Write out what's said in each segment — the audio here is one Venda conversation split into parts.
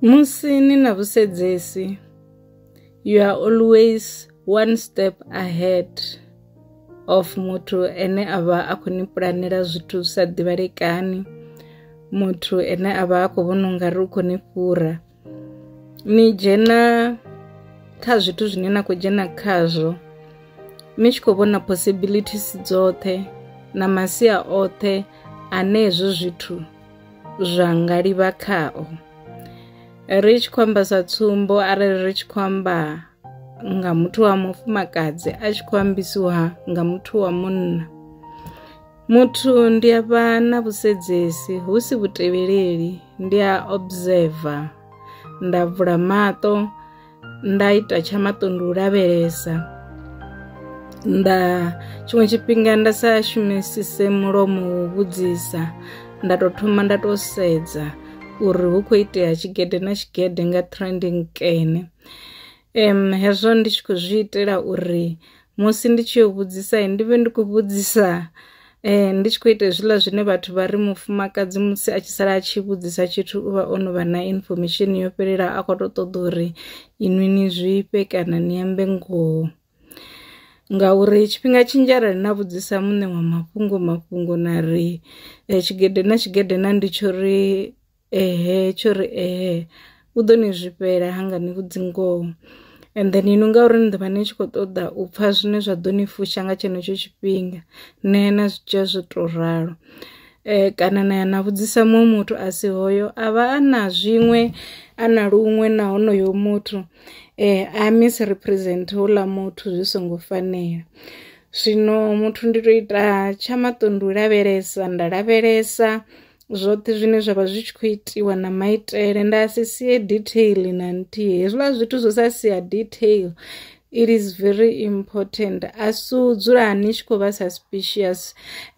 Musi ni na vhusedzesi, you are always one step ahead of muthu ane a vha a khou ni pulanela zwithu zwi sa ḓivhalekani muthu ane a vha a khou vhona u nga ri u khou ni fhura ni dzhena kha zwithu zwine na khou dzhena khazwo ni tshi khou vhona possibilities dzoṱhe na masia oṱhe ane hezwo zwithu zwa nga livha khao ri tshi khou amba sa tsumbo arali ri tshi khou amba nga muthu wa mufumakadzi a tshi khou ambisiwa nga muthu wa munna muthu ndi a vha na vhusedzesi hu si vhutevheleli ndi a observer nda vula maṱo nda ita tsha maṱondo u lavhelesa nda tshiṅwe tshifhinga nda sa shumisise mulomo wo vhudzisa nda tou thoma nda tou sedza uri hu khou itea tshigede na tshigede nga trending kene um hezwo ndi tshi khou zwi itela uri musi ndi tshi yo vhudzisa ndi vhe ndi khou vhudzisa eh ndi tshi khou ita hezwiḽa zwine vhathu vha ri mufumakadzi musi a tshi sala a tshi vhudzisa tshithu u vha o no vha na information yo fhelelaho a khou tou ṱoḓa uri inwi ni zwifhe kana ni ambe ngoho ngauri tshifhinga tshinzhi arali na vhudzisa muṋe wa mafhungo mafhungo na ri eh, tshigede na tshigede na ndi tsho ri ehe tsho ri ehe u ḓo ni zwifhela hanga ni vhudzi ngoho and then inwi ngauri ni ḓovha ni tshi khou ṱoḓa u pfha zwine zwa ḓo ni fusha nga tshenetsho tshifhinga na ya na zwi dzhia zwo tou ralo um kana na ya na vhudzisa muṅwe muthu a si hoyo a vha a na zwiṅwe a na luṅwe na honoyo muthu um a misrepresent houḽa muthu zwi songo fanela zwino muthu ndi tou ita tsha maṱo ndi u lavhelesa nda lavhelesa zwoṱhe zwine zwa vha zwi tshi khou itiwa na maitele nda si sie detail na nthihi hezwiḽa zwithu zwo sa sia detail it is very important a si u dzula ni tshi khou vha suspicious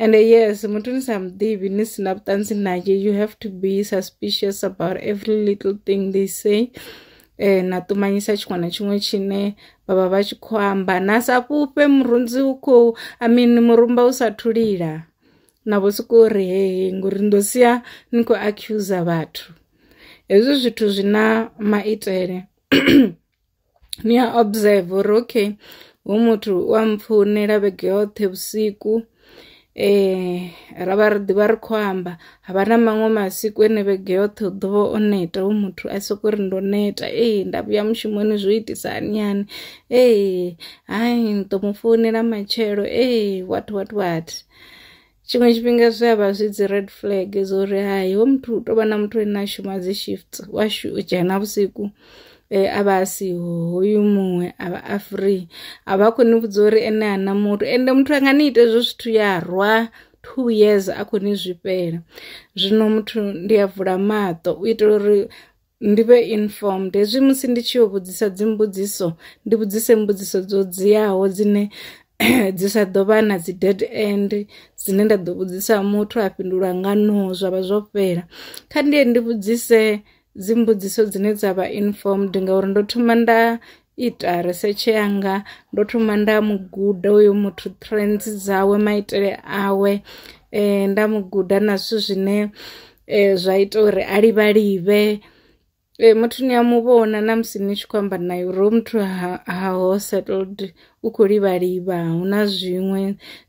and yes muthu ni sa muḓivhi ni si na vhuṱanzi naye you have to be suspicious about every little thing they say eh, na ṱumanyisa tshiṅwe na tshiṅwe tshine vha vha vha tshi khou amba na sa fhufhe murunzi u khou i mean murumba u sa thulila na vho sokou ri hehe ngori ndo sia ni khou accuser vhathu hezwi zwithu zwi na maitele ni a observe uri okay hu muthu u a mpfounela vhege yoṱhe vhusiku eh ra vha ri ḓivha ri khou amba ha vha na maṅwe masiku ene vhege yoṱhe u ḓo vha o neta hu muthu a sokou ri ndo neta ee nda vhuya mushumoni zwo itisa hani hani ee hai ni ḓo mu founela matshelo ee what what what tshiṅwe tshifhinga zwi a vha zwi dzi red flag zwo ri hai ho muthu u tou vha na muthu ane a shuma dzi shift wa dzhena vhusiku eh, a vha a siho hoyu muṅwe a vha a free a vha khou ni vhudza uri ene ana muthu ende muthu anga ni ite zwo zwithu ya rwa two years a khou ni zwifhela zwino muthu ndi a vula maṱo u itela uri ndi vhe informed hezwi musi ndi tshi yo vhudzisa dzimbudziso ndi vhudzise mbudziso dzo dziaho dzine dzi sa ḓo vha na dzi dead end dzine nda ḓo vhudzisa muthu a fhindula nga no zwa vha zwo fhela kha ndiye ndi vhudzise dzimbudziso dzine dza vha informed ngauri ndo thoma nda ita risetshe yanga ndo thoma nda mu guda uyo muthu trends dzawe maitele awe eh, nda mu guda na zwithu zwine eh, zwa ita uri a livhalive eh, muthu ni a mu vhona na musi ni tshi khou amba naye uri hoyu muthu ha, ha ho settled u khou livhaliva hu na zwiṅwe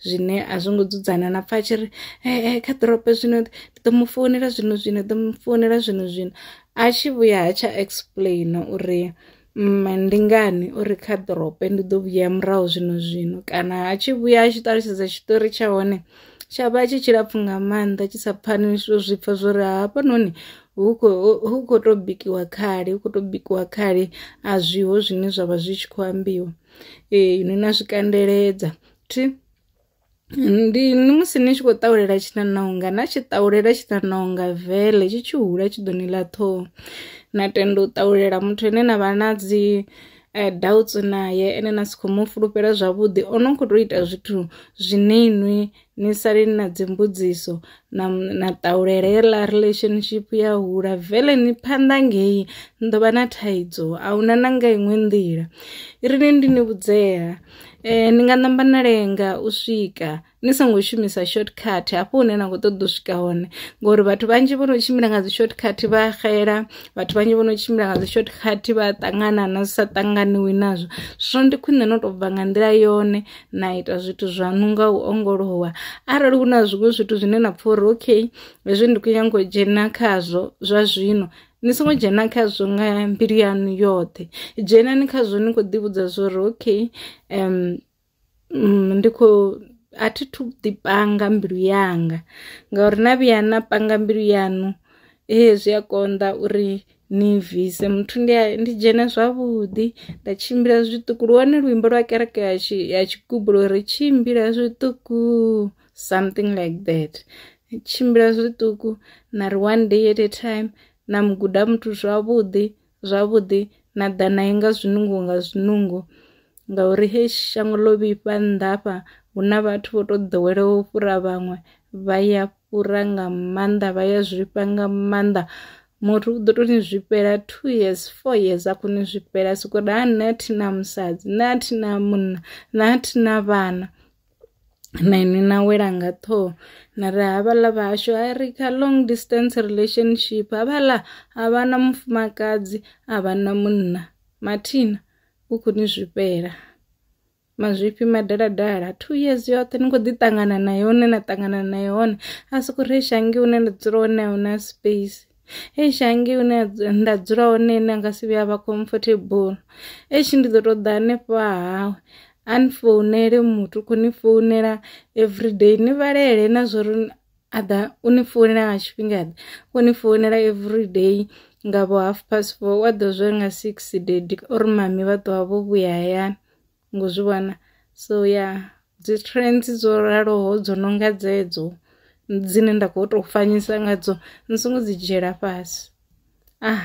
zwine a zwo ngo dzudzana na pfa a tshi ri eh, eh, kha ḓorobo zwino ndi ḓo mu founela zwino zwino ḓo mu founela zwino zwino a tshi vhuya ha tsha explain uri mme ndi ngani o ri kha ḓorope ndi ḓo vhuya murahu zwino zwino kana a tshi vhuya a tshi ṱalutshedza tshiṱori tsha hone tsha vha tshi tshilapfhu nga maanḓa tshi sa pfani zwo zwi pfha zwo ri hafhanoni hu khou tou bikiwa khali hu khou tou bikiwa khali a zwiho zwine zwa vha zwi tshi khou ambiwa ee ni na zwikandeledza thi. ndi ni musi ni tshi khou ṱahulela tshiṋaṋonga na tshi ṱahulela tshiṋaṋonga vele tshi tshi hula tshi ḓo ni ḽa ṱhoho na tenda u ṱahulela muthu ane na vha na dzi eh, doubts naye ene na si khou mu fulufhela zwavhuḓi o no khou tou ita zwithu zwine inwi ni sali ni na dzimbudziso na, na ṱahulela yeḽa relationship ya hula vele ni phanḓa ngei ni ḓo vha na thaidzo a huna na nga iṅwe nḓila ri ni ndi ni vhudzea Eh, ni nga namba na lenga u swika ni songo shumisa shortcut hafho hune na khou ṱoḓa u swika hone ngori vhathu vhanzhi vho no tshimbila nga dzi shortcut vha xela vhathu vhanzhi vho no tshimbila nga dzi shortcut vha ṱangana na zwi sa ṱanganiwi nazwo zwino ndi khwine no tou bva nga nḓila yone na ita zwithu zwaṋu nga u ongolowa arali hu na zwiṅwe zwithu zwine na pfha uri okay hezwi ndi khou nyanga u dzhena khazwo zwa zwino ni songo dzhena khazwo nga mbilu yanu yoṱhe dzhenani khazwo ni kho ḓi vhudza zwori okay um ndi kho a thi thu ḓi panga mbilu yanga ngauri na vhuya na panga mbilu yanu he zwi a konḓa uri ni bvise muthu ndi ndi dzhene zwavhuḓi nda tshimbila zwiṱuku lu hone luimbo lwa kereke ya tshi ya tshigubu lwa uri tshimbila zwiṱuku something like that tshimbila zwiṱuku na ri one day at a time na mu guda muthu zwavhuḓi zwavhuḓi na ḓa naye nga zwinungo nga zwinungo ngauri he shango ḽo vhifha nḓafha hu na vhathu vho tou ḓoweleho u fhura vhaṅwe vha ya fhura nga maanḓa vha ya zwifha nga maanḓa muthu u ḓo tou ni zwifhela two years four years a khou ni zwifhela sokori ha nṋe a thi na musadzi nṋe a thi na munna nṋe a thi na vhana na ini na wela nga ṱhoho na ri havhaḽa vhahashu a ri kha long distance relationship havhaḽa a vha na mufumakadzi a vha na munna mathina u khou ni zwifhela mazwifhi madaladala two years yoṱhe ni khou ḓi ṱangana na yone na ṱangana na yone a soko ri shangi hune nda dzula hone a huna space. eish hangei hune nda dzula hone ene anga si vhuya vha comfortable eish ndi ḓo to ḓa hanefha hawe a ni founele muthu khou ni founela everyday ni vhalele na zwo ri a ḓa u ni founela nga tshifhinga ḓe khou ni founela everyday nga vho half past four wa ḓo zwo nga six dedi uri mami vha ṱuwa vho vhuya hayani ngo zwi vhona so ya dzi trends dzo raloho dzo no nga dzedzo dzine nda kho to fanyisa ngadzo ni songo dzi dzhiela fhasi ah.